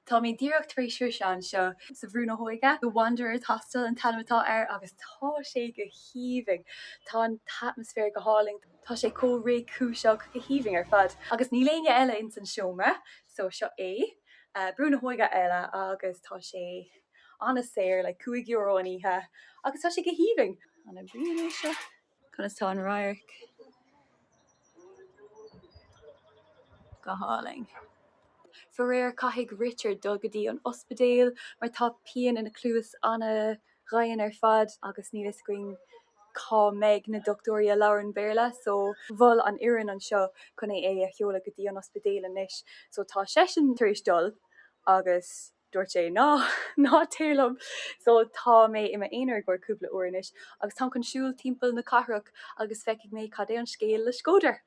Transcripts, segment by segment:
Tá mé díreach tar éis teacht anseo sa Bhrú na hÓige seo, The Wanderers Hostel an t-ainm atá air agus tá sé go haoibhinn. Tá an t-atmaisféar go hálainn, tá sé chomh réchúiseach, go haoibhinn ar fad. Agus níl éinne eile ins an seomra so seo é Brú na hÓige eile agus tá sé. Ana saor, like cúig euro an oíche agus tá sé go haoibhinn. Ana bhreá anseo. Conas tá an radharc? Go hálainn. Faraor caithfidh Richard dul go dtí an ospidéal mar tá pian ina chluas ana dhian ar fad agus níl fhios againn cá mbeidh na dochtúirí a labhraíonn Béarla so mhol an fhoireann anseo chun é a sheoladh go dtí an ospidéal anois so tá seisean tar éis dul agus dúirt sé ná, ná téir liom so tá mé i m'aonar i gcomhair cúpla uair anois agus táim chun siúl timpeall na cathrach agus feicfidh mé cad é an scéal le Shkodër.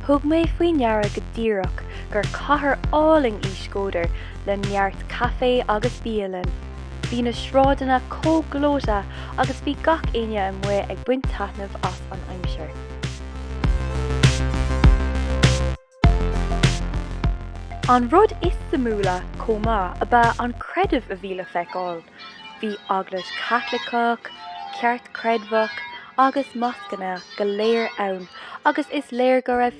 Thug mé faoi ndeara go díreach gur cathair álainn í Shkodër le neart caifé agus bialann. Bhí na sráideanna chomh gleoite agus bhí gach éinne amuigh ag baint taitneamh as an aimsir. An rud is suimiúla chomh maith ab ea an creideamh a bhí le feiceáil. Bhí Eaglais Chaitliceach, Ceartchreidmheach agus Moscanna go léir ann agus is léir go raibh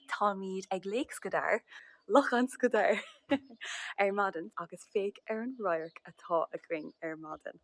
Táimíd ag Lake Skadar, Lochán Skadar, ar maidin agus féach ar an radharc atá againn ar maidin.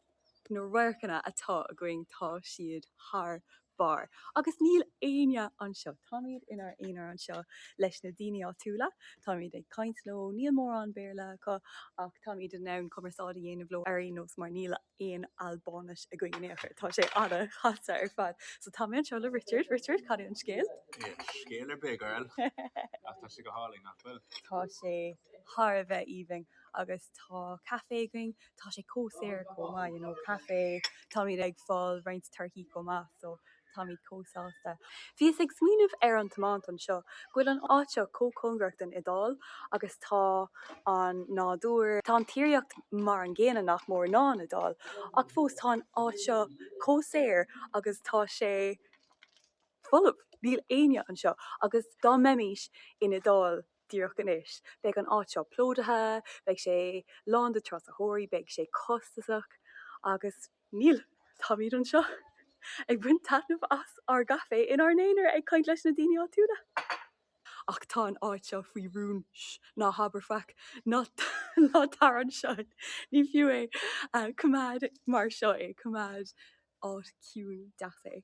Na radharcanna atá againn tá siad thar barr agus níl éinne anseo. Táimíd inár aonar anseo leis na daoine áitiúla. Táimíd ag caint leo, níl mórán Béarla acu ach táimíd in ann cumarsáid a dhéanamh leo ar aon nós mar níl a. aon Albáinis againn in aon chor. Tá sé ana-dheas ar fad. So tá mé anseo le Richard. Richard, cad é an scéal? Níl scéal ar bith, girl, ach tá sé go hálainn, nach bhfuil? Tá sé thar a bheith aoibhinn agus tá caifé againn. Tá sé chomh saor chomh maith, you know, caifé, táimid ag fáil roinnt torthaí chomh maith, so Táimid chomh sásta. Bhíos ag smaoineamh ar an tiomáint anseo, go bhfuil an áit seo chomh cóngarach don Iodáil agus tá an nádúr, tá an tíreolaíocht mar an gcéanna nach mór ná an Iodáil ach fós tá an áit seo chomh saor agus tá sé folamh, níl éinne anseo agus dá mbeimís in Iodáil, díreach anois. Beidh an áit seo plódaithe, beidh sé lán de thurasóirí, beidh sé costasach agus níl, táimid anseo ag baint taitneamh as ár gcaife inár n-aonar ag caint leis na daoine áitiúla. Ach tá an áit seo faoi rún, sh, ná habair faic, ná tar anseo, ní fiú é, coimeád mar seo é, coimeád. áit ciúin deas é.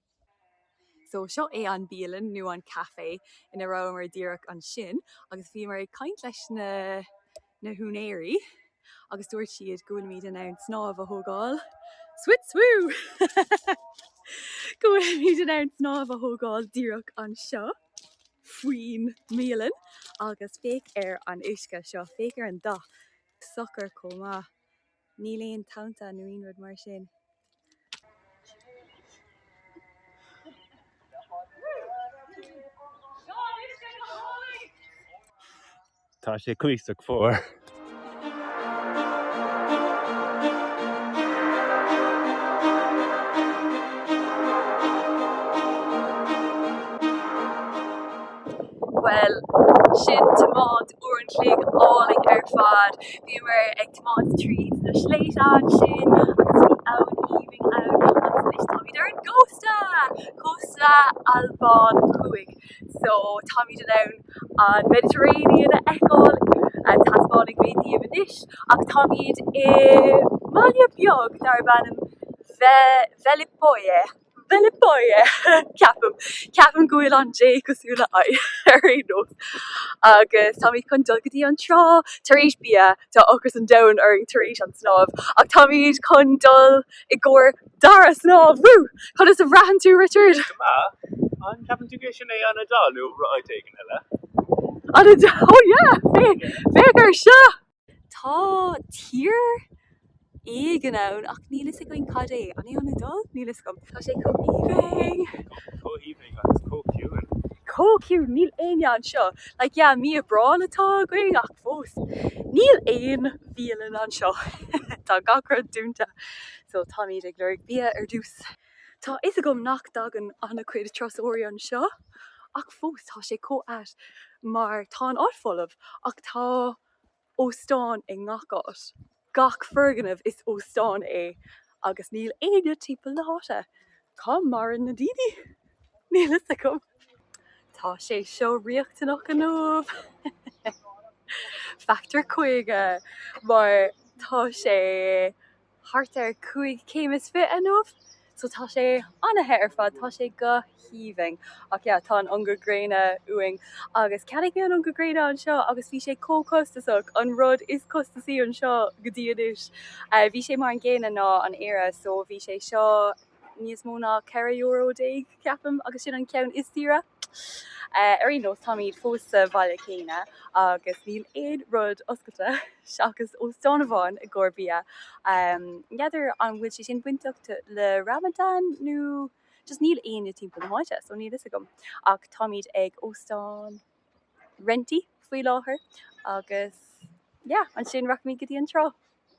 So seo é an bialann nó an café ina rabhamar díreach ansin agus bhíomar ag caint leis na húinéirí agus dúirt siad go bhfuilimid in ann snámh a thógáil swit swoo! go bhfuilimid in ann snámh a thógáil díreach anseo faoin mbialann agus féach ar an uisce seo, féach ar an dath. Socair chomh maith. Níl aon tonta nó aon rud mar sin. Tá sé cuíosach fuar. Bhuel, sin tiomáint uair an chloig álainn ar fad. Bhíomar ag Tiomáint tríd na sléibhte ansin agus bhí abhainn aoibhinn ann agus anois táimid ar an gcósta! Cósta Albáin thuaidh. So táimid in ann an Mediterranean a fheiceáil, taispeánfaidh mé daoibh anois, ach táimid i mbaile beag darb ainm Ve- Velipoje. Velipoje, ceapaim. Ceapaim go bhfuil an J cosúil le I ar aon nós. Agus táimid chun dul go dtí an trá tar éis bia tá ocras an domhain orainn tar éis an snámh ach táimid chun dul i gcomhair dara snámh. Woo! Conas a bhraitheann tú, Richard? Go maith. An gceapann tú gur sin é an Iodáil nó rud éigin eile? An Iodáil, oh yeah! Féach ar seo! Tá tír éigin ann ach níl fhios againn cad é. An é an Iodáil? Níl fhios agam. Tá sé chomh aoibhinn. Chomh aoibhinn agus chomh ciúin. Chomh ciúin. Níl éinne anseo. Like yeah mí Aibreáin atá againn ach fós níl aon bhialann anseo. Tá gach rud dúnta. So táimid ag lorg bia ar dtús. Tá fhios agam nach dtagann an-chuid turasóirí anseo ach fós tá sé chomh ait mar tá an áit folamh ach tá. óstáin i ngach áit. Gach foirgneamh is óstán é agus níl éinne timpeall na háite. Cá maireann na daoine? Níl fhios agam. Tá sé seo riachtanach inniu. Factor 50 mar tá sé thart ar cúig céim is fiche inniu so tá sé an-the ar fad, tá sé go haoibhinn. Ach yeah, tá an ungadh gréine uainn agus cheannaigh mé an ungadh gréine anseo agus bhí sé chomh costasach, an rud is costasaí anseo go dtí anois. Bhí sé mar an gcéanna ná an Éire so bhí sé seo níos mó ná ceithre euro déag, ceapaim, agus sin an ceann is saoire. Ar aon nós, táimíd fós sa bhaile céanna agus níl aon rud oscailte, seachas óstán amháin, i gcomhair bia. N'fheadar an bhfuil sé sin bainteach le Ramadan nó just níl éinne timpeall na háite, so níl a fhios agam. Ach táimíd ag óstán Renty faoi láthair agus yeah, ansin rachaimíd go dtí an trá.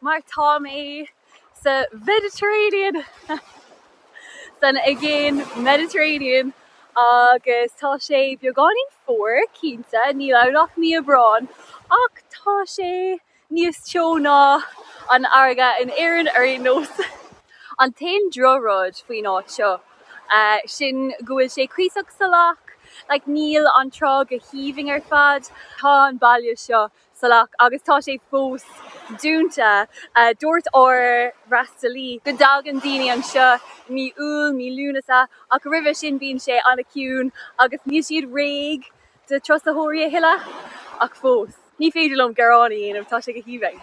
mar tá mé sa Mhediterranean! san aigéan, Mediterranean, agus tá sé beagáinín fuar, cinnte, níl ann ach mí Aibreáin, ach tá sé níos teo ná an fharraige in Éirinn ar aon nós. An t-aon droch-rud faoin áit seo é sin go bhfuil sé cuíosach salach, like níl an trá go haoibhinn ar fad. Tá an baile seo salach agus tá sé fós dúnta. Dúirt ár bhfreastalaí go dtagann daoine anseo i mí Iúil, mí Lúnasa ach roimhe sin bíonn sé an-chiúin agus níl siad réidh do turasóirí a thuilleadh. Ach fós, ní féidir liom gearán a dhéanamh, tá sé go haoibhinn.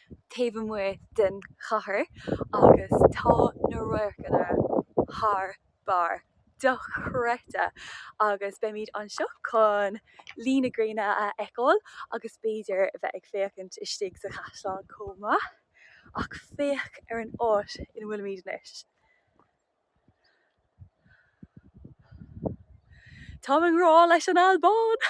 taobh amuigh den chathair agus tá na radharcanna thar barr, dochreidte agus beimid anseo chun luí na gréine a fheiceáil agus b'fhéidir a bheith ag féachaint istigh sa chaisleán chomh maith. Ach féach ar an áit ina bhfuilimid anois. Táim i ngrá leis an Albáin!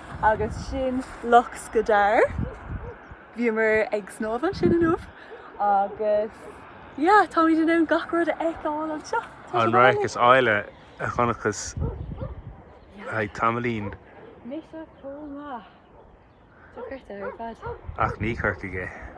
agus sin Loch Scodaire. Bhíomar ag snámh ansin inniu agus yeah, táimid in ann gach rud a fheiceáil anseo. An radharc is áille a chonaiceas le tamaillín. Mise chomh maith. Dochreidte ar fad. Ach ní Corcaigh é.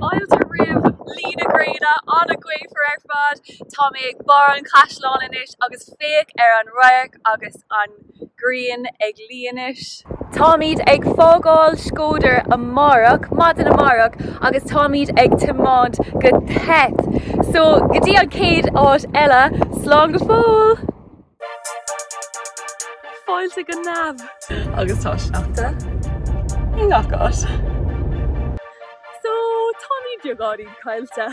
Fáilte roimh luí na gréine, an-ghaofar ar fad. Tá mé ag barr an chaisleáin anois agus féach ar an radharc agus an. grian ag líonadh. Táimid ag fágáil Shkodër amárach, maidin amárach, agus táimid ag tiomáint go Theth. So, go dtí an chéad áit eile, slán go fóill! Fáilte go Neamh! Agus tá sneachta i ngach áit. So, táimid beagáinín caillte.